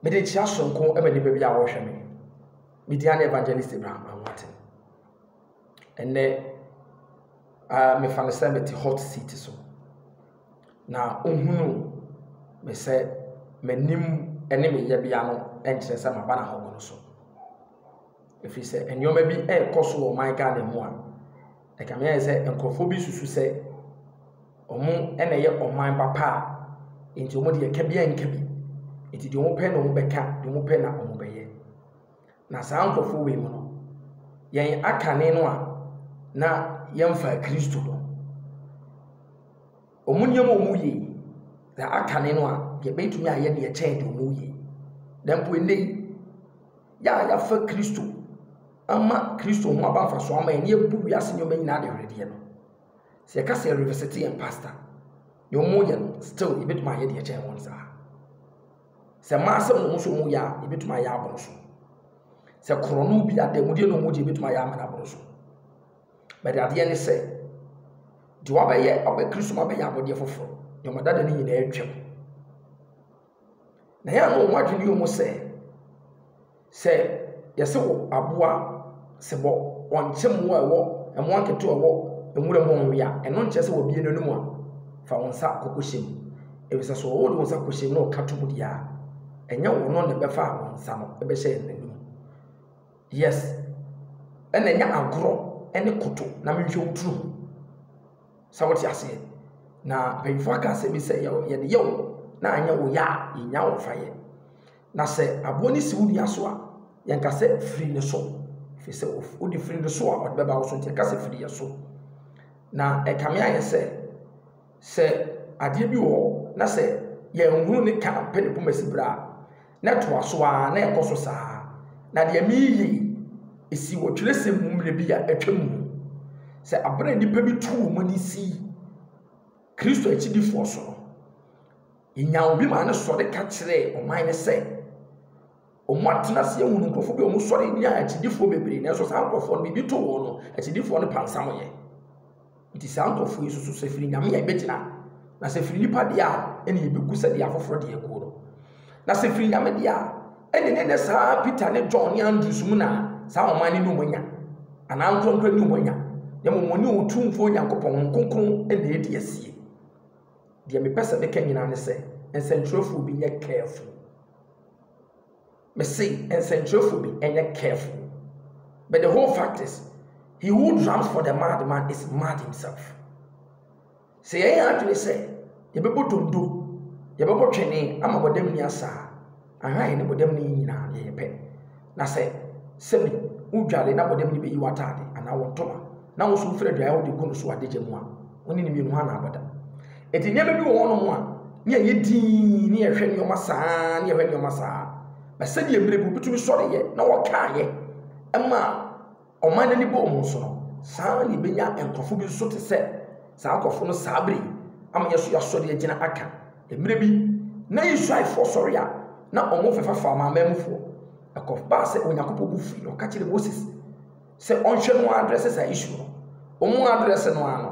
Mede nkyia soronko ma nnipa bi a wɔrehwɛ me. Me din ane Evangelist Abraham Anwate. Ɛnɛ, uh, mefa no sɛ mete hot seat so. Na ohunu me sɛ m'anim ne me yɛbea no nkyerɛ sɛ maba na hɔgo no so. Ɛfiri sɛ nneɛma bi ɛrekɔ so wɔ ɔman Ghana mu a Ɛkame ayɛ sɛ nkurɔfoɔ bi susu sɛ wɔn na ɛyɛ ɔman papa a nti wɔn deɛ ɛka bi a nka bi. Nti deɛ wɔpɛ na wɔbɛka, deɛ wɔpɛ na wɔbɛyɛ. Na saa nkurɔfoɔ wei mu no, yɛn akane no a na yɛmfaa Kristo no, Wɔn nneɛma a wɔyɛ yi na akane no a, yɛbɛtumi ayɛ deɛ ɛkyɛn deɛ wɔyɛ yi. Na mpo ɛnnɛ yi, yɛ a yɛafa Kristo ama Kristo ho aba mfasoɔ ama yɛn na yɛbu wiase nneɛma nyinaa de hweredeɛ no. Sɛ yɛka sɛ yɛrevisite yɛn pasta, deɛ wɔyɛ no still yɛbɛtumi ayɛ deɛ ɛkyɛn wɔn saa. Sɛ mmaa asɛm na wɔn nso wɔyɛ a, yɛbɛtumi ayɛ aboro so. Sɛ korɔno bi adanmudeɛ na wɔgye yɛbɛtumi ayɛ amena aboro so. But adeɛ ne sɛ, deɛ wabɛyɛ ɔbɛ Kristo mu abɛyɛ abɔdeɛ foforɔ, deɛ wɔn adada no nyinaa atwam. Na yɛn ano wɔn adwene yɛ mu sɛ, sɛ yɛsɛ wɔ aboa sɛ bɔ wɔnkyɛ mmoa ɛwɔ mmoa nketewa ɛwɔ nwura mu ɔnwe a, ɛno nkyɛ sɛ wɔbie no anom a, fa wɔn nsa kɔkɔhyɛ mu. Efisɛ sɛ wɔwɔ de wɔn nsa kɔhyɛ mu na wɔka to mu deɛ a, ɛnyɛ wɔn na ɛbɛfa wɔn nsa no ɛbɛhyɛ yɛn anom. Yes ɛna ɛnyɛ agorɔ ɛne koto na menhwɛ wo turu ho sɛ wote aseɛ na mpanyinfoɔ aka asɛm bi sɛ yɛde yɛ wo na anyɛ wo yɛ a yɛnya wo fa yɛ na sɛ aboɔ no si wo nua so a yɛnka sɛ firi ne so firi sɛ wode firi ne so a ɔde bɛba wo so nti yɛka sɛ firi yɛ so na ɛkame ayɛ sɛ sɛ adeɛ bi wɔ hɔ na sɛ yɛnhunu ne ka pɛ ne poma si berɛ a Na ɛtoa so ara, na ɛkɔ so saa ara. Na deɛ mereyɛ yi, ɛsii wɔ twerɛsɛm mu mmerɛ bi a atwam mu. Sɛ aberɛ a nnipa bi tuu wɔn ani sii Kristo akyidifoɔ so no, yɛnyaa obi maa no sɔre ka kyerɛɛ ɔman no sɛ, wɔatena ase ahunu nkurɔfoɔ bi a wɔsɔre nyaa akyidifoɔ bebree, nanso saa nkurɔfoɔ no, biribi too wɔn no, akyidifoɔ no pansameeɛ. Enti saa nkurɔfoɔ yi susu sɛ firi Nyame a ɛbɛgyina, na sɛ firi nnipa deɛ a, ɛne ɛbɛgu sɛdeɛ afoforɔ deɛ aguo no. Na sɛ firi Nyame deɛ a, ɛne ne ne saa Peter ne John ne Andrews mu na saa ɔman no nni wɔn anya, anaa nkorɔnkorɔ nni wɔn anya, na mmom wɔne Otumfoɔ Nyankopɔn, Honhom Kronkron, na ɛdi asie. Deɛ mepɛ sɛ meka nyinaa ne sɛ, nsɛntwerɛfoɔ bi nyɛ careful. Mese nsɛnkyerɛwfo bi nyɛ careful but the whole fact is he who drums for the mad man is mad himself. Sɛ yɛyɛ yɛn adwene sɛ yɛbɛbɔ dondo, yɛbɛbɔ twene ama bɔdam ni asa a, aha yɛne bɔdam ni nyinaa yɛyɛ pɛ. Na sɛ sɛbi wodware na bɔdam ni bɛyi w'ataade anaa wo ntoma na wo so wofiri aduan a wode gu no so adagya mu a, wo ne no mmienu hwan na abɔ da? Enti nneɛma bi wɔ hɔnom a, ne ɛyɛ dinn, ne yɛhwɛ nneɛma saa, ne yɛhwɛ nneɛma saa. Na sɛdeɛ mmerɛ bi wobɛtumi sɔreeɛ na wɔkaeɛ ma ɔman no ani bɔɔ mu nso no, saa ara na yɛbɛnya nkurɔfo bi nso te sɛ saa nkurɔfo no saa berɛ yi ama yɛn nso yɛasɔre agyina aka. Mmerɛ bi, na Israelfoɔ sɔre a, na wɔn fɛfa fa amanamanmufoɔ. Ɛkɔbaa sɛ Onyankopɔn bo fui na ɔka kyerɛɛ Moses. sɛ ɔnhwɛ no address saa issue no. Wɔn address no ara no,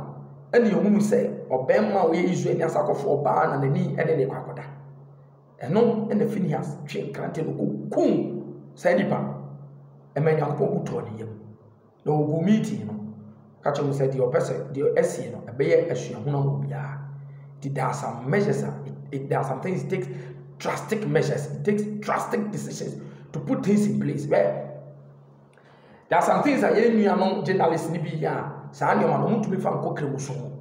ɛna yɛhunu sɛ ɔbarima a ɔyɛ Israel nyansakɔfoɔ baa na n'ani ne ne kɔ akɔda. Ɛno na Finehas twe nkrante no kɔkum saa nipa no. Ɛma Nyankopɔn bu tɔɔ ne yam. Na wɔgu meeting no ka kyerɛ mu sɛ deɛ ɔpɛ sɛ deɛ ɛsie no ɛbɛyɛ asuahunu ama obiara. Nti there are some measures a it, it, there are some things it takes drastic measures, it takes drastic decisions to put things in place where There are some things a yɛn nuanom journalists no bi yɛ a saa nneɛma no wɔntumi fa nkɔ Kremuso ho.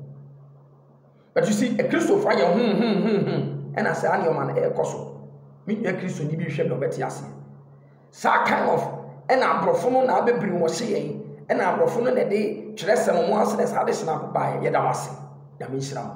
But you see, Kristofo ayɛ ho ho ho ho ɛna saa nneɛma no ɛrekɔ so. Me nua Kristoni bi hwɛ na ɔbɛte aseɛ. Saa kind of ɛna aborɔfo no na abɛbiri wɔ hye yɛn ɛna aborɔfo no na ɛde twerɛsɛm mu ase na saa de hyena baeɛ yɛda wase. Nyame nhyira mo.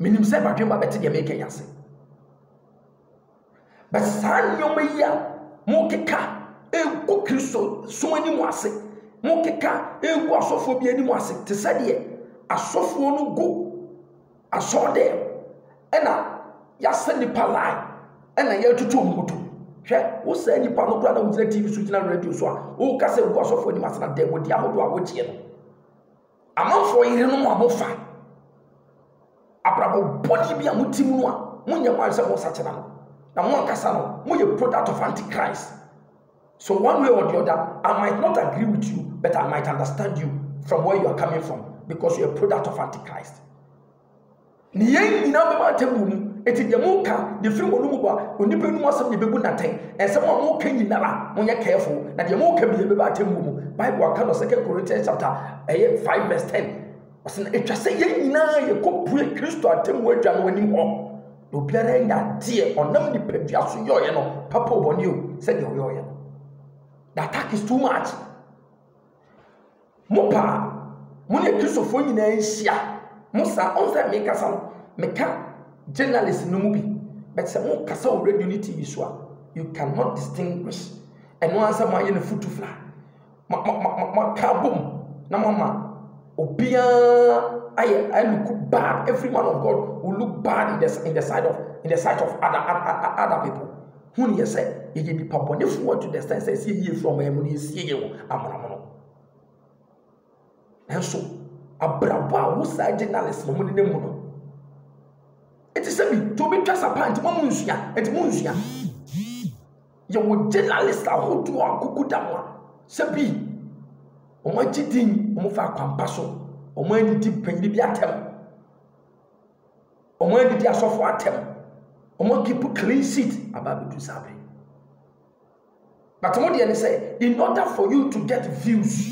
Menim sɛ m'adwemma bɛte deɛ mereka yi ase. But saa nneɛma yi a mokeka ɛgu Kristo som anim ase, mokeka ɛgu asɔfoɔ bi anim ase, te sɛ deɛ asɔfoɔ no gu asɔr dɛm ɛna yɛasɛ nipa line ɛna yɛatutu wɔn ho to. Hwɛ, wo saa nipa no koraa na wogyina TV so gyina radio so a woka sɛ gu asɔfoɔ anim ase na dɛ wɔdi ahodoɔ a wogyeɛ no. Amanfoɔ yerenom a mofa abrabɔ bɔne bi a mote mu no a monyɛ kwan sɛ mosakyera no, na mo ankasa no moyɛ product of antichrist. So one way or the other, I might not agree with you, but I might understand you from where you are coming from because you are a product of antichrist. Na yɛn nyinaa bɛba atemmuo mu. Enti deɛ moka de firi mo anomu ba onipa anum asɛm na ɛbɛbu no atɛn. Nsɛm a moka nyinara monyɛ careful. Na deɛ moka bia ɛbɛba atemmuo mu. Bible aka no second Corinthians chapter ɛyɛ five verse ten. Ɔsɛ na ɛtwa sɛ yɛn nyinaa yɛkɔbue Kristo atemmuo adwa no anim hɔ. Na obiara anya adeɛ ɔnam nipadua so yɔɔyɛ no papa obɔne o sɛdeɛ ɔyɔɔyɛ no. The attack is too much. Mo pɛ a, mo ne Kristofo nyinaa nhyia. Mo saa, ɔn sɛ mekasa no, meka journalist no mu bi, but sɛ mo kasa wɔ radio ne TV so a, you can not distinguish. Ɛno ara sɛ mo ayɛ no futu fla. Mo, mo, mo, mo, mo aka abom na mo ama obiara ayɛ aluku bad. Every man of God will look bad in the, in the side of, in the sight of other, other, other people. Hu no yɛ sɛ yɛyɛ nnipa bɔnefoɔ to the extent sɛ ɛsɛ yɛyie firi ɔman mu na yɛsie yɛ wɔ amonomono. Nanso, abrabɔ a wo saa journalist no mo ne mu no, ɛte sɛ bi to bi twa sa paa nti mo nsua, nti mo nsua. Yɛwɔ journalist ahodoɔ a kuku da mo a, sɛ bi, wɔn agye din, wɔn fa akwampa so, wɔn anidi panyin bi atɛm. Ɔmo adidi asɔfo atɛm. Ɔmo keep clean seat aba abɛdu saa bere. But mo deɛ ne sɛ, in order for you to get views,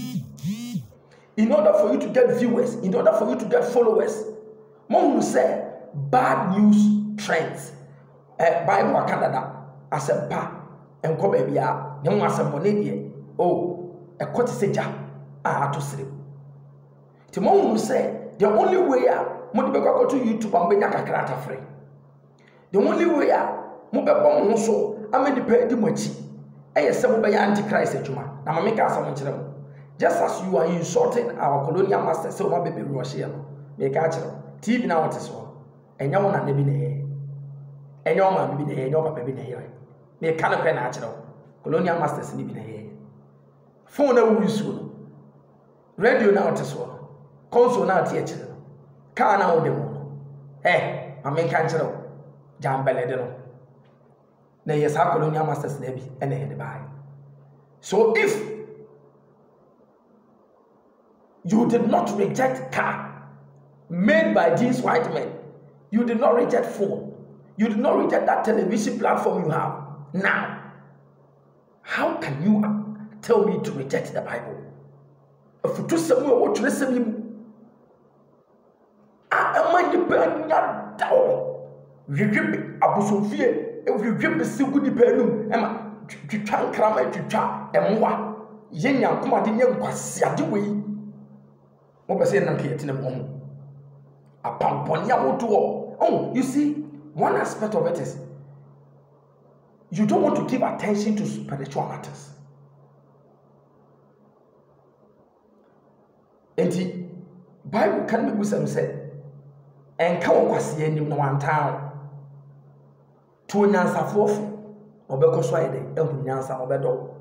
in order for you to get viewers, in order for you to get followers, mo hunu sɛ bad news trends. Eh, Bible aka dada, asɛmpa nkɔ baabi a, ne ho asɛmmɔne deɛ, oh, ɛkɔ te sɛ gya a ato serem. Nti mo hunu sɛ the only way a mo de bɛkɔ akɔto YouTube a mo bɛnya kakra atafere. The only way a mo bɛbɔ mo ho so ama nipa adi mo akyi ɛyɛ sɛ mo bɛyɛ antichrist adwuma. Na maame ka asɛm nkyerɛ mo. Just as you are insulting our colonial master sɛ wɔn abɛbi wɔn ɔhyeɛ no, meka akyerɛ mo, TV na wɔte so no, ɛnyɛ wɔn nana bi na ɛyɛ, ɛnyɛ wɔn maame bi na ɛyɛ, ɛnyɛ wɔn papa bi na ɛyɛ. Meka no pɛ na akyerɛ mo, colonial masters ni bi na ɛyɛ. Fone na ɛwɔ nsuo no, Radio no a wote soɔ no, console no a wote akyire no, kaa no a wode mu no, ɛ, ma menka nkyerɛ wo, gyaa mbɛlɛde no. Na ɛyɛ saa colonial masters no bi na ɛde baeɛ. So if you did not reject car made by these white men, you did not reject phone, you did not reject that television platform you have now, How can you tell me to reject the Bible? Afutusɛm a ɛwɔ twerɛsɛm yi mu a ɛma nnipa anya da wɔ hwehwe abosomfie hwehwe bese gu nnipa anum ɛma twitwa nkrama twitwa mmoa yɛ nyankomade nyɛ nkwaseade wei mopɛ sɛ yɛnam kɛyɛtena mu ho apampɔne ahodoɔ oh you see one aspect of it is You don't want to give attention to spiritual matters. Enti, Bible ka no bisa no sɛ, ɛnka wɔ kwaseɛ anim na wantaa wo. To onyansafoɔ fo, na ɔbɛkɔ so ayɛ dɛ, ahu nyansa na ɔbɛdɔ wo.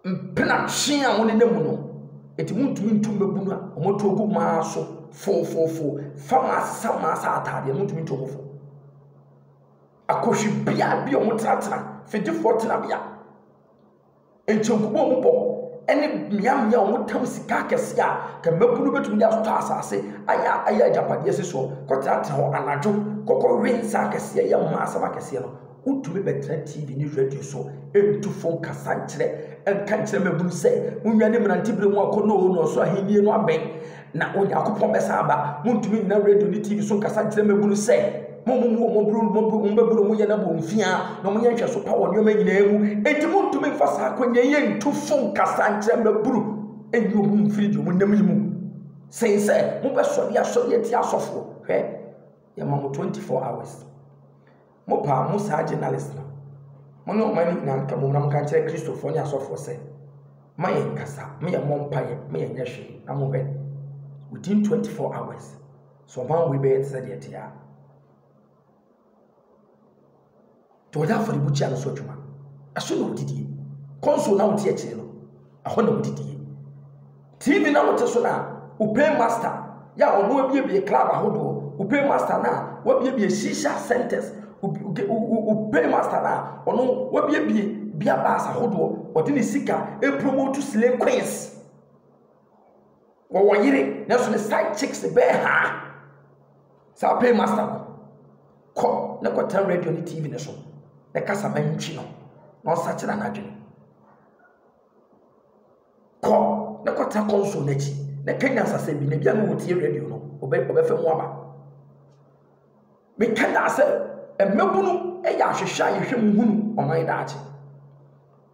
Mprenatwe a wɔnenam mu no, nti wɔntumi ntu mmaabunu no a wɔatu agu wɔn ara so fofofo. Fa wɔn asesa wɔn ara sɛ ataadeɛ, wɔntumi ntu wɔn fo. Akohwibea bi a wɔtenatena, fidiefoɔ tenabea. Enti nkɔmmɔ a wɔbɔ ne mmeammea a wɔtɛm sika akɛse a nka mmabunu betumi de atotɔ asase ayɛ ayɛ agyapadeɛ si soɔ kɔtenatena hɔ anadwo kɔkɔwe nsa akɛseɛ yɛ mmaa asɛm akɛseɛ no, wotumi bɛtena TV ne radio so ntu fo nkasa nkyerɛ nka nkyerɛ mmabunu sɛ, Monnwane mmerantebere mu akɔnnɔ oo na ɔsoro ahennie no abɛn. Na Onyankopɔn bɛsan aba. Montumi nnyina radio ne TV so nkasa nkyerɛ mmabunu sɛ, Mommu wɔn mmabunu, mommu wɔn mmabunu, monyɛ na bɔ mfia, na monyɛ nhwɛso pa wɔ nneɛma nyinaa mu. Enti montumi mfa saa akwannya yi ntu fo nkasa nkyerɛ mmabunu nyi wɔn mfiri deɛ wɔnam yi mu, sen sɛ mobɛsɔre asɔre atia asɔfoɔ. Hwɛ, yɛma mo 24 hours. Mo paa mo saa journalist no. Mo ne ɔman no nyinaa nka mmom na mo ka nkyerɛ Kristofoɔ ne asɔfoɔ sɛ, ma yɛn nkasa, ma yɛn mmɔ mpaeɛ, ma yɛn nyɛ hwee, na mo hwɛ, within 24 hours, sɛ ɔman wei bɛyɛ te sɛ deɛ ɛte a, deɛ ɔyɛ afɔrebukyia no so adwuma, ɛso na ɔdidie, kɔnso na wote akyire no. Ɛhɔ na wodidie. TV no a wote so no a, wopɛ master yɛ a ɔno abiebie club ahodoɔ, wopɛ master no a wabiebie shisha centers, wopɛ master no a ɔno wabiebie beer bars ahodoɔ, ɔde ne sika ɛpromote slay queens. Wɔwɔ yere, nanso ne side chicks bɛɛ ha. Saa pay master no, kɔ na kɔtena radio ne TV no so, na kasa ma ntwi no, na ɔsakyera n'adwene. Kɔ na kɔtena kɔnsol no akyi, na ka nyansasɛm bi, na ebia na ɔretie radio no, ɔbɛ ɔbɛfa mu aba. Meka daa sɛ mmabunu yɛ ahwehwɛ a yɛhwɛ mu hunu ɔman daakye.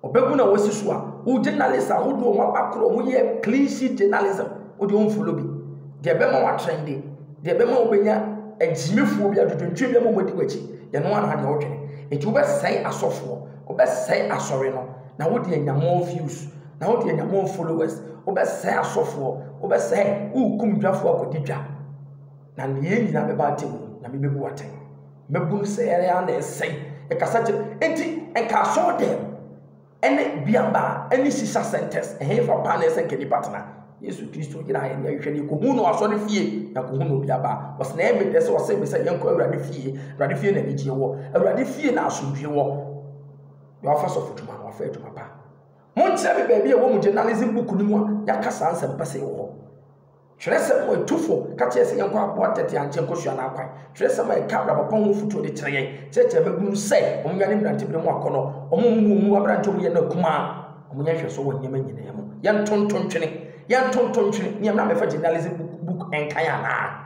Ɔbabunu a wɔasi so a, wo journalist a wode wɔn aba korɔ, wɔyɛ clean sheet journalism, wode wɔn mfolo bi. Deɛ ɛbɛma wɔatrɛn de, deɛ ɛbɛma wɔbɛnya agyimifoɔ bi, adwodwontwe bi ama wɔadi w'akyi, yɛn ho ara na deɛ wodwene. Nti wobɛsɛe asɔfoɔ, wobɛsɛe asɔre no, na wode anya more views na wode anya more followers wobɛsɛe asɔfoɔ wobɛsɛe worekum dwafoɔ akɔdi dwa na neyɛ nyinaa bɛba atɛm mu na mebɛbu atɛn mɛbunu sɛ ɛyɛ a na ɛsɛe ɛkasa kyerɛ enti ɛnka asɔɔ dɛm ɛne biaba ɛne sisa centers ɛhefa paa na ɛsɛ nka nipa tena yesu kristo gyina yɛn yɛn hwɛ ne kohu no asɔre fie na kohu no biaba wɔsɛ na ɛmɛ dɛ sɛ wɔsɛ mɛ sɛ yɛnkɔ awurade fie awurade fie na anigyeɛ wɔ awurade fie na asomdwie wɔ na wafa sɔfodwuma na wafa adwuma pa. Monkyerɛ me baabi a ɛwɔ mo journalism book no mu a yɛaka saa nsɛmpa sei wɔ hɔ. Twerɛsɛm a ɛtu fo ka kyerɛ sɛ yɛnkɔ aboa tɛtɛ ankyɛ nkɔsua n'akwan. Twerɛsɛm a ɛka abrabɔpa ho afotuo de kyerɛ yɛn kyerɛkyerɛ mmabunu no sɛ wɔnwane mmeranteberɛ mu akɔnnɔ, wɔmmu wɔn mu aberante a wɔyɛ no akumaa, wɔnyɛ nhwɛsoɔ wɔ nneɛma nyinaa mu. Yɛntonto ntwene! Yɛntonto ntwene! Meɛ mmra mmɛfa journalism book nkan anaa?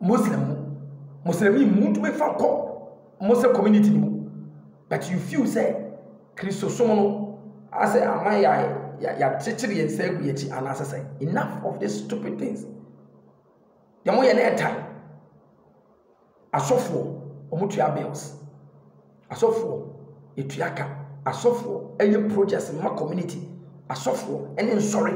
Muslim mu Muslimni mu wontumi fa nkɔ Muslim community no mu but you feel sɛ Kristosom no asɛ ama yɛ yɛakyekyere yɛn nsa agu yɛn akyi anaasɛ sɛ enough of these stupid things yɛn mo yɛ na ɛtan asɔfoɔ wɔn tua bills. Asɔfoɔ yɛtua ka. Asɔfoɔ yɛ projects ma community. Asɔfoɔ ne nsɔre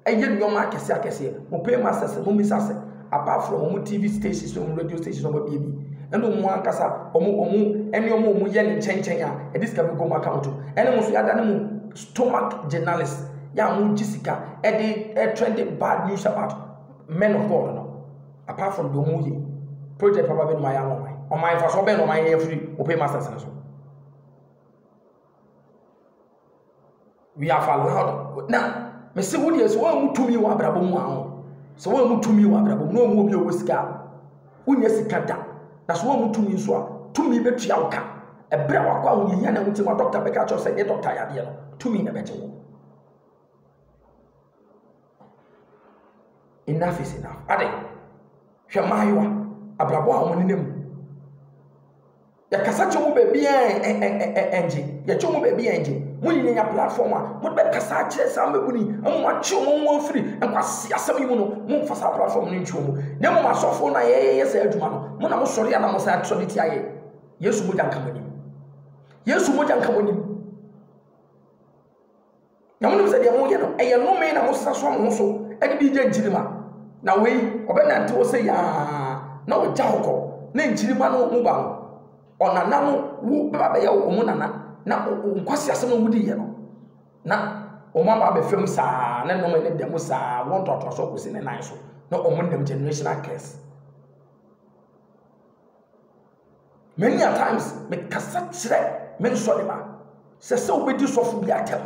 yɛ nnoɔma akɛseɛ akɛseɛ. Mo pay masters mo mmisa sɛ apart from wɔn TV stations ne wɔn radio stations a wɔn abue bi ɛna wɔn ankasa wɔn wɔn nnoɔma a wɔn yɛ ne nkyɛn nkyɛn a yɛde sika bi gu wɔn account mu ɛne mo nso yɛada ne mo stomach journalist yɛ a mo gye sika ɛde ɛtrɛnde bad news about men of God no. Apart from deɛ wɔn yɛ project papa bɛ numa yɛ ama ɔman ɔman nfasoɔ bɛn na ɔman yɛ firi open masters no so we are allowed na mesi wo deɛ sɛ wɔn mu tumi wɔ abrabɔ mu ahɔ sɛ wɔn mu tumi wɔ abrabɔ mu na wɔn mu obi ɔwɔ sika wonyɛ sika da na sɛ wɔn mu tumi nso a tumi bɛtua wo ka ɛberɛ a wakɔ ahohiahia na wotim a dɔkta bɛka kyerɛ sɛ nyɛ dɔkta yadeɛ no tumi na bɛgye wo Enough is enough. Ade, hwɛ mmaayewa, abrabɔ a wɔnenam mu. Yɛkasa kyɛ mu baabi a ɛngye. Yɛkyɛ mu baabi a ɛngye. Mo nyinaa nya platform a mode bɛkasa akyerɛ saa mmabunu yi ama wɔatwe wɔn ho afiri nkwasi asɛm yi mu no. Momfa saa platform no ntwe wɔn. Na mmom asɔfoɔ no a yɛyɛ saa adwuma no, mo na mosɔre a na mosan sɔre tia yɛn. Yesu mogya nka mo anim. Yesu mogya nka mo anim. Na monim sɛ deɛ moyɛ no, ɛyɛ nnome na mosesa soa mo ho so de di gya nkyirimma. Na wei, ɔbɛnante hɔ sɛ yaa na ɔgya hɔ kɔ, na nkyirimma no mu ba no, ɔnana no wu bɛba abɛyɛ wɔn nana, na wɔn nkwaseasɛm no modiiɛ no, na wɔn aba abɛfam saa, ne nnome ne dɛm saa, wɔn ntoatoasoɔ kɔsi ne nan so, na wɔn nam generation accursed. Many a times mekasa kyerɛ me nsɔreba sɛ sɛ wobɛdi sɔfo bi atɛm,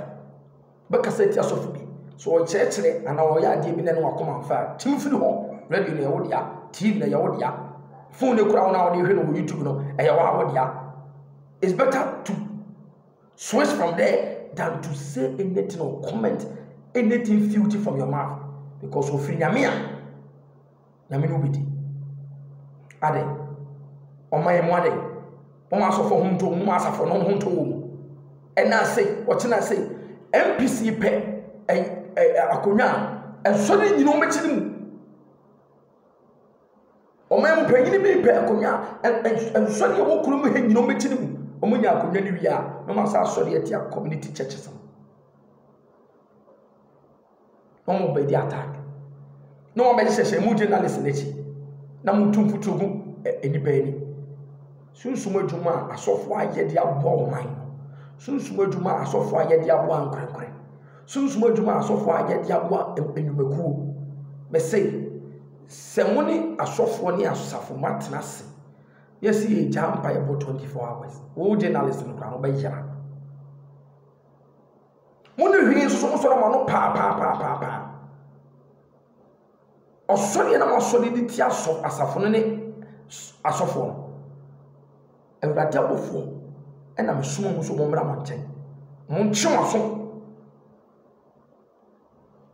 wobɛkasa atia sɔfo bi, sɛ ɔkyerɛkyerɛ anaa ɔyɛ adeɛ bi na ɛne wakoma mfa a, tim firi hɔ. Radio no ɛyɛ wo dea, TV no ɛyɛ wo dea, phone no kura wo na wode hwɛ no wɔ YouTube no ɛyɛ wo a wo dea. It's better to switch from there than to say anything or comment anything filthy from your mouth because ofiri nyame a Nyame ne wo bɛdi. Adɛ, ɔma yɛ mo adɛ, mo asɔfo ho nto, mo asafo no ho nto wo mu. Ɛna ase, ɔkyena ase, MPC pɛ ɛ, ɛ, akonwa a, ɛnsɔ ne nyina ɔmɛkyi ne mu. Ɔma yɛ mo panyini bi pɛ akonwa a, ɛnsɔ ne ɛwɔ kuro mu he nyina ɔmɛkyi ne mu. Ɔmo nya akonwa ne wie a, na ɔma saa asɔre ɛte a community churches no. na wɔn bɛ di attack na wɔn bɛ hyehyɛ mu journalist n'akyi na wɔn tu mfutuo gu nnipa ani sunsun adwuma a asɔfo ayɛ de aboa wɔn man sunsun adwuma a asɔfo ayɛ de aboa nkorankorɛ sunsun adwuma a asɔfo ayɛ de aboa nnwumakuo bɛsɛ sɛ mo ne asɔfoɔ ne asafo mo atena ase yɛsi yɛ gya mpa yɛ bɔ twenty four hours wɔn journalist no kora wɔn bɛ yɛra. Mo ne hwene nso nsɔre mo ano paapaapaapaa. Ɔsɔre yɛ na masɔre de ti asɔ asafo no ne asɔfoɔ no. Awurade abɔfoɔ ɛna mesoma mo so mo mmra mo nkyɛn. Montwe mo aso.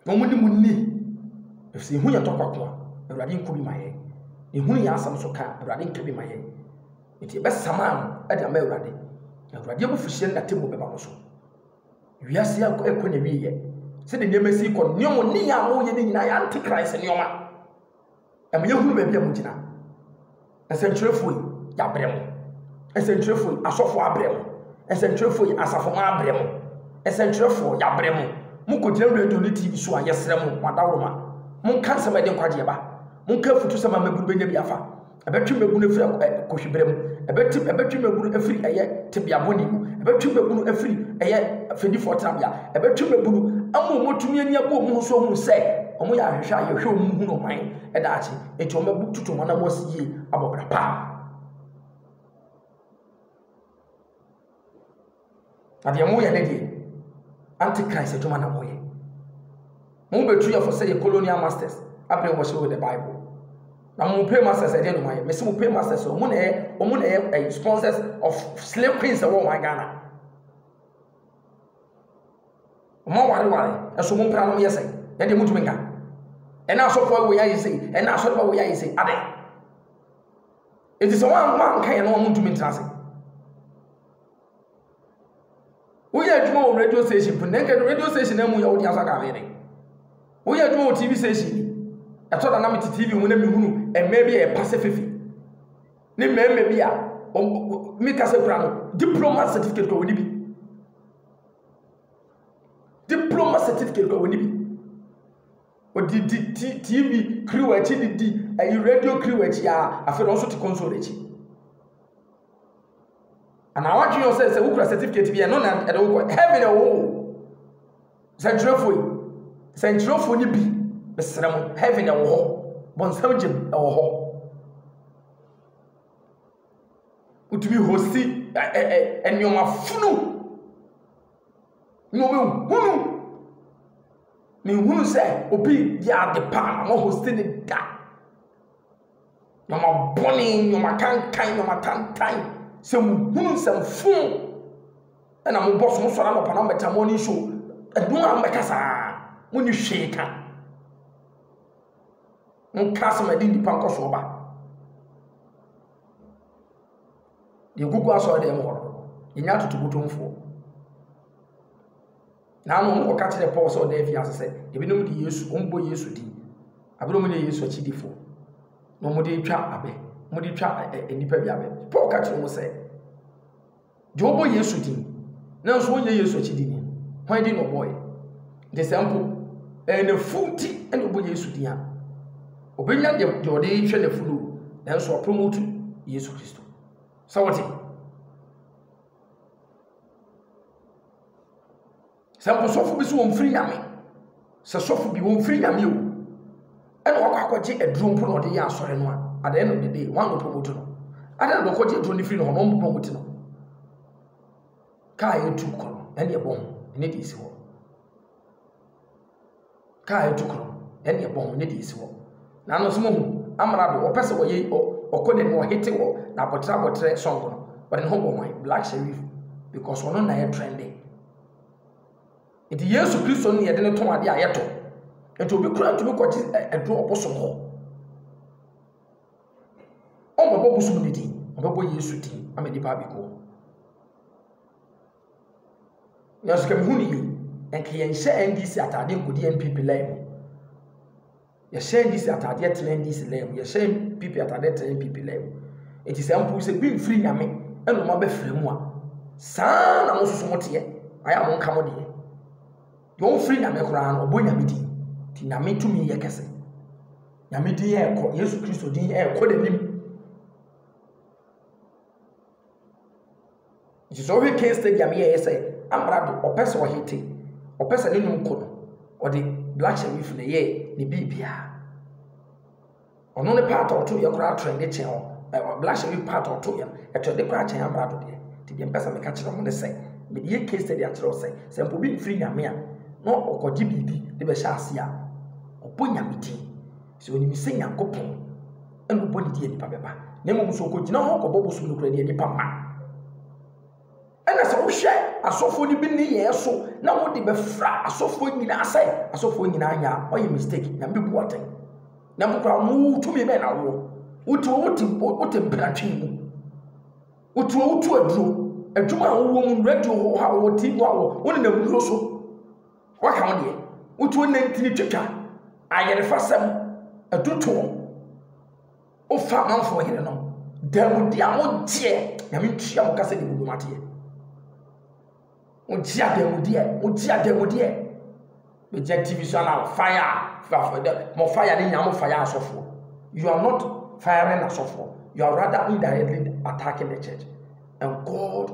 na wɔne mo nni, ɛfiri sɛ ehu yɛ tɔkwa ko a, Awurade nko bi ma yɛn. Ehu yɛ asɛm so ka a, Awurade nka bi ma yɛn. Enti yɛbɛsama ano de ama Awurade. Awurade abufuhyeɛ ne n'atemmuo bɛba mo so. Wiase yi akɔ akɔ n'awieeɛ. Sɛdeɛ nneɛma si kɔ no, nneɛma nneyɛɛ a moyɛ no nyinaa yɛ antichrist nneɛma. Ɛma yɛhunu baabi a mogyina. Nsɛntwerɛfoɔ yi, yɛabrɛ mo. Nsɛntwerɛfoɔ yi, asɔfoɔ abrɛ mo. Nsɛntwerɛfoɔ yi, asafomma abrɛ mo. Nsɛntwerɛfoɔ, yɛabrɛ mo. Mokɔgyina radio ne TV so a, yɛsrɛ mo, mo adaworoma, monka nsɛm a ɛde nkwagyeɛ ba. Monka afutusɛm a mmabunu bɛnya bi afa. Ɛbɛtwe mmabunu afiri ak- ɛ- kohwibere mu. Ɛbɛte- ɛbɛtwe mmabunu afiri ɛyɛ tebea bɔne mu. Ɛbɛtwe mmabunu afiri ɛyɛ fɛdifoɔ tenabea. ɛbɛtwe mabunu ama wɔn atumi ani abɔ wɔn ho so ahunu sɛ wɔyɛ ahwehwɛ a yɛhwɛ wɔn hunu ɔman daakye nti wɔn bɛbu tutu wɔn anam wɔsi yie abɔ bra pa na deɛ mo yɛ ne deɛ anti christ adwuma na wɔyɛ mo bɛtu yɛfo sɛ yɛ colonial masters abɛn wɔ hyɛ wɔ the bible na mo pay masters ɛdeɛ no ma yɛ mesi mo pay masters wɔn na yɛ wɔn na yɛ sponsors of slave queens ɛwɔ wɔn ghana. Wɔn awareware, ɛso wɔn mpena nom yɛ sɛ, ɛde mo ntumi nka. Ɛna asɔfo awo yɛ ayɛ sɛ, ɛna asɔre awo yɛ ayɛ sɛ, adɛ. Eti sɛ wɔn wɔn anka yɛn no wɔn ntumi ntena ase. Woyɛ adwuma wɔ radio station fo, na nka radio station na mu yɛ wodi asɔ kafe de. Woyɛ adwuma wɔ TV station bi. Ɛtɔ da na me te TV mu na me hunu ɛmɛ bi a ɛpa sɛ fefe. ne mmarima bi a meka sɛ kura no diploma certificate kura wɔn bi diploma certificate kura wɔn bi wɔde di ti tv kiri wɔn akyi de di ayi radio kiri wɔn akyi a afei na wɔn nso te kɔnsol akyi anaa wɔatwe yɛn sɛ sɛ wokura certificate bi ɛno na ɛde wokɔ heaven ɛwɔ wo. Sɛnkyerɛwfo yi, sɛnkyerɛwfo no bi, mesrɛ mo, heaven ɛwɔ hɔ, bɔnsam gyem ɛwɔ hɔ. Wotumi hosti ɛ ɛ ɛ nneɛma funu, nneɛma hunu. Mehunu sɛ obi yɛ ade paa, wɔhosti ne da. Nneɛma bɔne, nneɛma tantan, nneɛma tantan. Sɛ muhunu nsɛmfoo na mobɔ so, mosɔre anɔpa na mobɛtena morning show, ɛno a mobɛka saa, monni hwee ka. Monka asɛm a ɛde nnipa nkɔsoɔ ba. Deɛ gugu asɔre dɛm hɔ no, yɛnya atotobotomfoɔ. Nanom no kɔka kyerɛɛ Paul sɛ ɔda afiase sɛ ebinom de Yesu, wɔbɔ Yesu din, abere a wɔnyɛ Yesu akyidifo, na wɔde retwa abɛ, wɔde retwa ɛ- ɛ- nnipa bi abɛ. Paul ka kyerɛɛ wɔn sɛ, deɛ ɔbɔ Yesu din, nanso ɔnyɛ Yesu akyidini no, hwan din na ɔbɔeɛ? Nti sɛ mpo ɛyɛ n'afuo nti na ɔbɔ Yesu din a, ɔbɛnya deɛ deɛ ɔde retwa n'afuo no, nanso wapromotu Yesu Kristo. Sɛ wɔte? Sɛ mpo sɔfo bi so ɔmfiri Nyame. Sɛ sɔfo bi ɔmfiri Nyame o, ɛna wakɔ akɔgye aduro mpo na ɔde yɛ asɔre no a, at the end of the day, wɔn anɔpromote no. Adan na ɔkɔgye aduro no firi no hɔ na wɔn promote no. Kaa yɛtu kɔ no, ɛne ɛbɔ ho, ɛne deɛ ɛsi hɔ. Kaa etu kor no, hɛn na yɛbɔ ho, ne dze esi hɔ. Naanom so muhu amrado, ɔpɛ dɛ ɔyɛ ɔ ɔkɔ n'enyim, ɔhetse wɔ n'abɔtser abɔtser song no, ɔdze noho bɔ hɔn, Black Sherif, because ɔno na yɛ trende. Ntsi Yesu Christo no na yɛdze no tɔn adze a yɛtɔ. Ntsi obi koraa nntum nkɔgye ɛ ɛduro ɔbosom hɔ. Ɔmmbɔbɔ bosom ne dzin, ɔbɔbɔ Yesu dzin ama nyimpa abɛkɔ mu. Nanso ka mehu no yie. Nka yɛnhyɛ NDC ataadeɛ nkɔdi NPP line mu. Yɛhyɛ NDC ataadeɛ tena NDC line mu. Yɛhyɛ NPP ataadeɛ tena NPP line mu. Eti sɛ mpo sɛ bi mfiri nyame ɛna ɔmo abɛfra mu a, saa na mo nso mo teɛ. Ayɛ a mo nka mo deɛ. Deɛ ɔmfiri nyame koraa no, ɔbɔ nyame din. Ti nyame tumi yɛ kɛse. Nyame din ɛɛkɔ, Yesu Kristo din ɛɛkɔ n'anim. Nhyehyɛɛ a ɔhwɛ Kane Stadium yɛe nye sɛ, ambrado, ɔpɛ sɛ ɔhe tse, ɔpɛ dza n'enum kɔ do, ɔdze Black Sherif na eyɛɛ ne biribiara. Ɔno ne part a ɔtooyɛ koraa trɛnde kyɛn ɔ ɛ Black Sherif part a ɔtooyɛ no, ɛtrɛnde koraa kyɛn ambrado deɛ. Ntsi deɛ mepɛ sɛ meka kyerɛ hom ne sɛ, mede yɛ case study akyerɛ wo sɛ, sɛ mpo obi mmfir Nyame a, na ɔkɔgye biribi de bɛhyɛ ase a, ɔbɔ Nyame dzin. Sɛ onim sɛ Nyankopɔn na ɔbɔ ne deɛ nipa bɛba, na mmom sɛ ɔkɔgyina hɔ kɔbɔ bosom no koraa deɛ nipa mma. Ɛna sɛ wohwɛ asɔfoɔ no bi nneyɛɛ so na wode bɛfra asɔfoɔ nyinaa sɛ asɔfoɔ nyinaa nyɛ a, ɔyɛ mistake, nyame bɛbu atɛn. Na mpo koraa mo tumi bɛn na wowɔ? Wote wote wote mpratwe mu. Wote wotu aduro. Adwuma a wowɔ mu, radio hɔ a wɔ TV a wɔ, wonenam duro so. Waka wo deɛ, wotuo nantini twitwa, ayerefasɛm, atutuo, wofa amanfoɔ yerenom, dawudi a wogyeɛ, nyame ntua mo kasa ne wudum adeɛ. Wogye adamudeɛ, wogye adamudeɛ. Bɛgya TV so ana fire, mo fire ne nyame fire asɔfoɔ. You are not firing asɔfoɔ, you are rather indirectly attacking the church. And God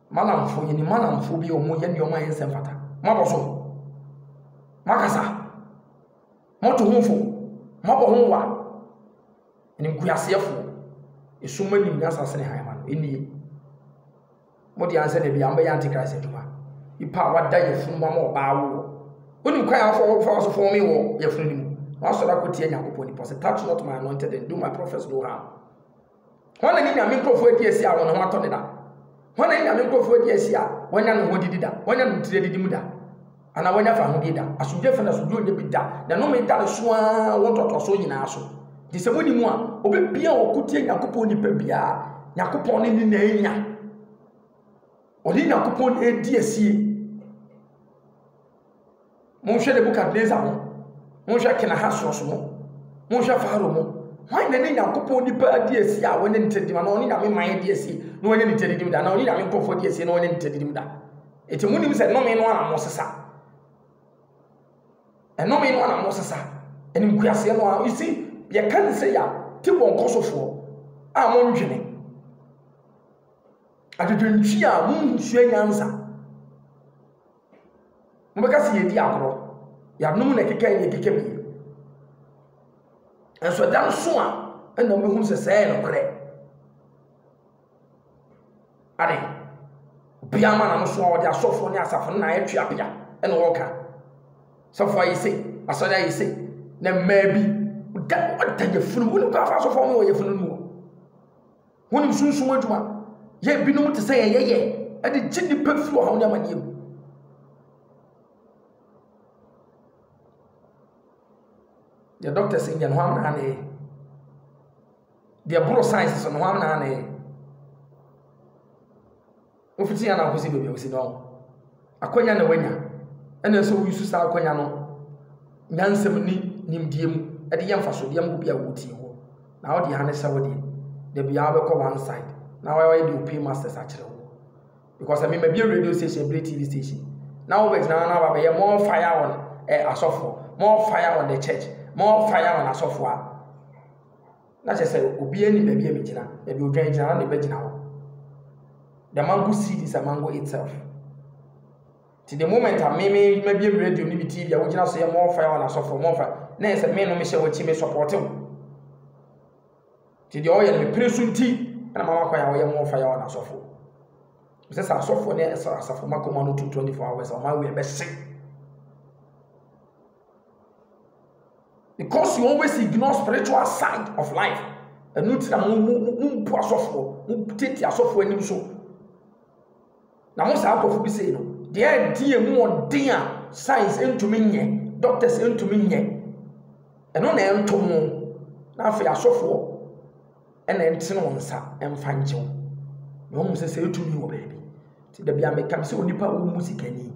Malamfoɔ yɛnim malamfoɔ bi a wɔn yɛ nneɛma a ɛnsɛ mfata. Moabɔ so. Moakasa. Moto ho fo. Moabɔ ho wa. Ɛnim kuaseɛfoɔ. Ɛsum ma nim nyasa sene han ma no. Ɛnie. Mode ansɛ na bi a mbɛyɛ antichrist adwuma. Nipa a wada yɛfunu mu ama ɔbaa woɔ. Wonim kwan a wɔfa wɔfa so fɔme wɔ yɛfunu no mu. Na wasɔre akɔtia Nyankopɔn nipa sɛ touch not my anointed and do my prophets no harm. Hwan na ne Nyame nkurɔfoɔ adi asi a wɔn ho atɔ no da? Hwan na ne Nyame nkurɔfoɔ adi asi a wɔanya ne ho adidi da, wɔanya no tiri adidi mu da, anaa wɔanya fahodie da? Asomdwoeɛ fa no, asomdwoeɛ nnya bi da, na nnome da no so ara wɔ ntoatoasoɔ nyinaa so. Nti sɛ monni mu a, ɔbɛbia a ɔko tia Nyankopɔn nnipa biara, Nyankopɔn ne ne na anya. Ɔne Nyankopɔn na ɛredi asie. Monhwɛ Nebukadnesar ho, monhwɛ Kenahasros ho, monhwɛ Farao ho. Hwan na ne Nyankopɔn nipa adi asi a wɔne ne tadidim anaa ɔne Nyame man adi asi na wɔne ne tadidim da anaa ɔne Nyame nkurɔfoɔ adi asi na wɔne ne tadidim da? Eti monim sɛ nnome no ara na mosesa. Nnome no ara na mosesa. Ɛne nkuaseɛ no ara. You see, yɛka ne sɛ ya te wɔn kɔsofoɔ a mondwene. Adwedwentwi a monsua nyansa. Mobɛka sɛ yɛredi agorɔ. Yɛanom na ɛkeka yi na ɛkeka bi. Nanso ɛda no so a, ɛna mobɛhunu sɛ sɛɛ yɛ nokorɛ. Ade, obiara ma n'ano so a ɔde asɔfoɔ ne asafo no na ayɛ tweabea ɛna ɔreka. Sɔfoɔ ayɛ sei, asɔre ayɛ sei, na mmaa bi, ɔda ɔda yafunu mu. Wonim kwan fa asɔfoɔ ma wɔ yafunu no mu? Honnim sunsum adwuma yɛ ebinom te sɛ yɛyɛ yɛ de gye nnipa firi ɔhaw ne amanneɛ mu. Deɛ dɔkta si nyɛ no hɔ amena ne deɛ boro science so no hɔ amena ne Ofitsi ana okosi beebi a osi no, akwanya na oenya, nna ɔsɛ dɛ ouse saa akwanya no nyansam nye nyimdzee mu dze yɛ mfaso dze ama obi a otsie hɔ. Na ɔdze ha no sɛ wo dze, da biara ebɔkɔ one side na ɔayɛ dɛ opue masters akyerɛ wo. Because sɛ me mebue radio station, mebue TV station na wo bɛgyina ha na aba abɛyɛ more fire on eh asɔfo, more fire on the church, more fire on asɔfo a, Na kyerɛ sɛ obiara nim baabi a megyina. Baabi odwan gyina no na mebɛgyina hɔ. The mango seed is a mango itself. Nti the moment a me me mabiem radio ne me TV a wogyina so yɛ more fire on asɔfo more fire na yɛ sɛ me no mehyɛ w'akyi me support wo. Nti deɛ ɔyɛ no mepere so nti ɛna mama kwan a ɔyɛ more fire on asɔfo. Sɛ sɛ asɔfo ne asafo makoma no tu 24 hours a ɔma wei bɛhye. Because you always ignore spiritual side of life. Ɛno nti na mo mo mo mo mpu asɔfoɔ, mo tete asɔfoɔ anim so. Na mo saa nkurɔfo bi sei no, deɛ ɛdi emu ɔden a science ntumi nyɛ, doctors ntumi nyɛ. Ɛno na ɛnto mo. Na afei asɔfoɔ na ɛntene wo nsa mfa nkyɛ wo. Na woahu sɛ sɛ ɛtumi wɔ baabi. Nti da biara meka sɛ onipa a ɔmmu sika nni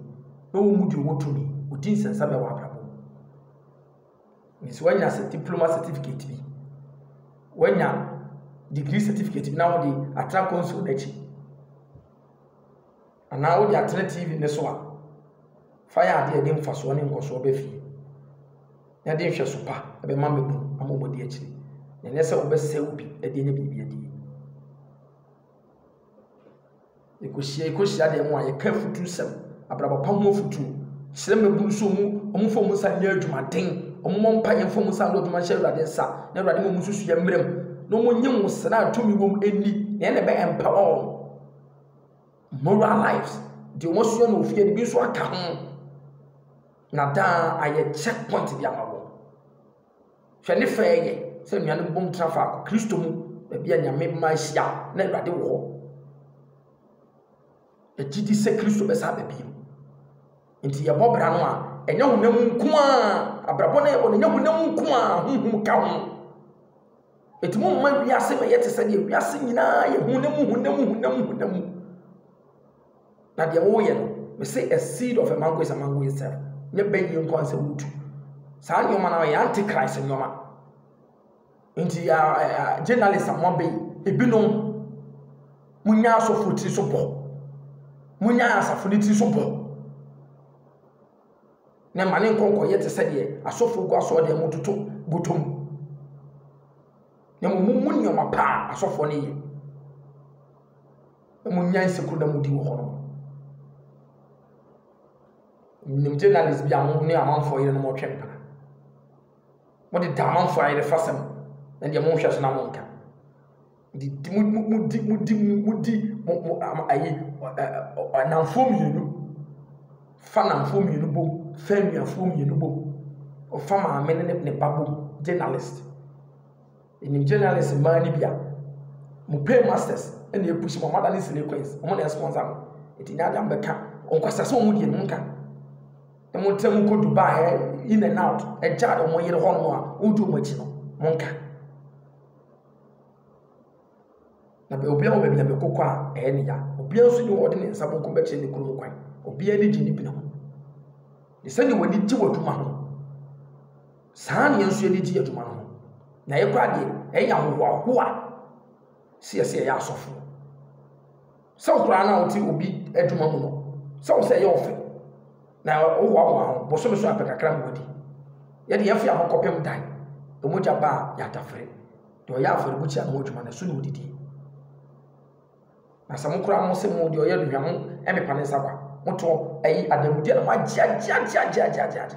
na ɔmmu deɛ ɔwɔ tumi, ɔdi nsensame wɔ abrabɔ mu. Nti sɛ woanya sɛ diploma certificate bi, woanya degree certificate bi na wode atena console no akyi. Anaa wode atena TV no so a, fa yɛ adeɛ a ɛde mfasoɔ ne nkɔsoɔ ba fie, na ɛde nhwɛso pa bɛma mmabunu ama wɔadi akyire, na ɛnyɛ sɛ wobɛsɛe obi de anya biribi adie. Yɛkɔhyia yɛkɔhyia deɛ mu a yɛka afutusɛm, abrabɔ pa ho afutuo, kyerɛ mmabunu so mu, wɔn mfa wɔn nsa nyɛ adwumaden, wɔn mmɔ mpa yɛn mfa wɔn nsa ano adwuma nhyɛ Awurade nsa, na Awurade ma wɔn nso so yɛ mmerɛm, na wɔn nye wɔn sra a tumi wɔm ɛnni, na ɛna ɛbɛ empower wɔn. Moral lives, deɛ wɔasua no wɔ fie no bi nso aka ho. Na daa ayɛ check point bi ama wɔn. Hwɛ ne fɛ yɛ sɛ nnuane bom tra faako Kristo mu, baabi a Nyame mma ahyia na Awurade wɔ hɔ. Ɛgye di sɛ Kristo bɛsa aba bio. Nti yɛbɔ bra no a, ɛnyɛ honam nko a, abrabɔ no yɛbɔ no, ɛnyɛ honam nko a, honhom ka ho. Ɛtumi ma wiase bɛyɛ te sɛ deɛ wiase nyinaa yɛ hunam hunam hunam hunam. Na deɛ woyɛ no, me se a seed of a mango is a mango itself. Nyɛ bɛyie nko ansɛ wotu. Saa nneɛma no yɛ antichrist nneɛma. Nti journalist a moabɛ yi, ebinom, monya asɔfo tiri so bɔ. Monya asafo no tiri so bɔ. na ɛma ne nkɔ nkɔyɛ te sɛ deɛ asɔfoɔ gu asɔɔdan mu toto bɔtɔ mu na mmom mummu nneɛma pa a asɔfoɔ no yɛ na munnya nsekuro na mudi wɔ hɔ no nim journalist bi a mo ne amanfoɔ yere no mɔtwe mpena mode da amanfoɔ ayere fasɛm na deɛ monhwɛ so na monka di di mo mo mo di mo di mo mo di mo mo am ayi ɔnamfoɔ mmienu fa namfoɔ mmienu bom fa nnuafoɔ mmienu bom ɔfa maame ne ne ba bom journalist ɛnim journalist mmaa no bi a mo pay masters ɛna ɛpusi mo amada ne sile coins wɔn na ɛsponsor mo ɛti nyɛ adam bɛka ɔnkwasa sɛ wɔn deɛ no nka na mo ntɛ mo kɔ dubai ɛ in and out ɛgya wɔn yere hɔ nom a wɔn di wɔn akyi no mo nka. Na bɛ obiara wɔ baabi a bɛkɔ kɔ a ɛyɛ ne ya. Obiara nso nni hɔ a ɔde ne nsa benkum bɛkyerɛ ne kurom kwan. Obiara ani gye ne bena ho. Ne sɛdeɛ w'ani gye w'adwuma ho, saa na yɛn nso yɛn ani gye adwuma no ho. Na yɛn koraa deɛ, yɛyɛ ahohoahoa sɛ yɛsɛ yɛyɛ asɔfoɔ. Sɛ wo koraa na wote obi adwuma mu no, sɛ wo sɛ ɛyɛ ɔfɛ na wohoahoa ho bosome so apɛ kakra ma wadi. Yɛde yɛn fea ho kɔpem dan, mogya ba a yɛatafere. Deɛ ɔyɛ afɔrebukyia no ho adwuma no, ɛso na ɔdidie. Na sɛ mo koraa mo se mo deɛ ɔyɛ aduhwam ho mmepa ne nsa kwa, motoɔ ayi adanmudeɛ na moagyeagyeagyeagyeagyeagye.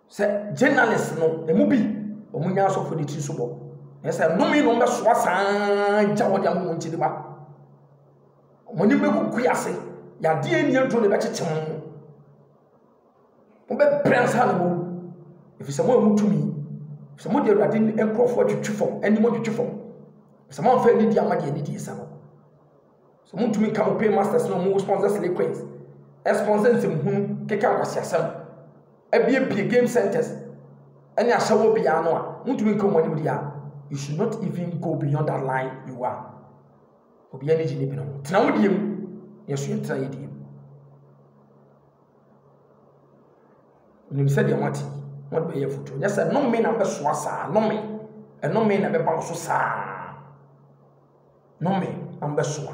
Sɛ journalist no ɛmu bi wɔn nya asɔfo de tiri so bɔ na sɛ nnome na wɔbɛsoa saa gya wɔde ama wɔn nkyɛn ba wɔn anim bɛkuku ase yadeɛ nni aduro na ɛbɛkyekye wɔn wɔbɛbrɛ ansa na wɔwu ɛfiri sɛ mo a motumi sɛ mode awurade nkurɔfoɔ atwitwi fam anim atwitwi fam sɛ moamfa anidie ama deɛ anidie sa no So muntumi nka mo paymasters na wɔn sponsor silly coins, sponsor nsɛmhunu, keka nkwaseasɛm, abiebie game centers ne ahyɛwɔ bea ano a muntumi nka wɔn anim deɛ a, you should not even go beyond that line you are. Obiara ani gye ne bere ho. Tena wo deɛ mu. Yɛn so yɛntena yɛ deɛ mu. Menim sɛdeɛ moate yi, mode bɛyɛ afotuo. Nyɛ sɛ nnome na mobɛsoa saa, nnome, nnome na ɛbɛba mo so saa, nnome na mobɛsoa.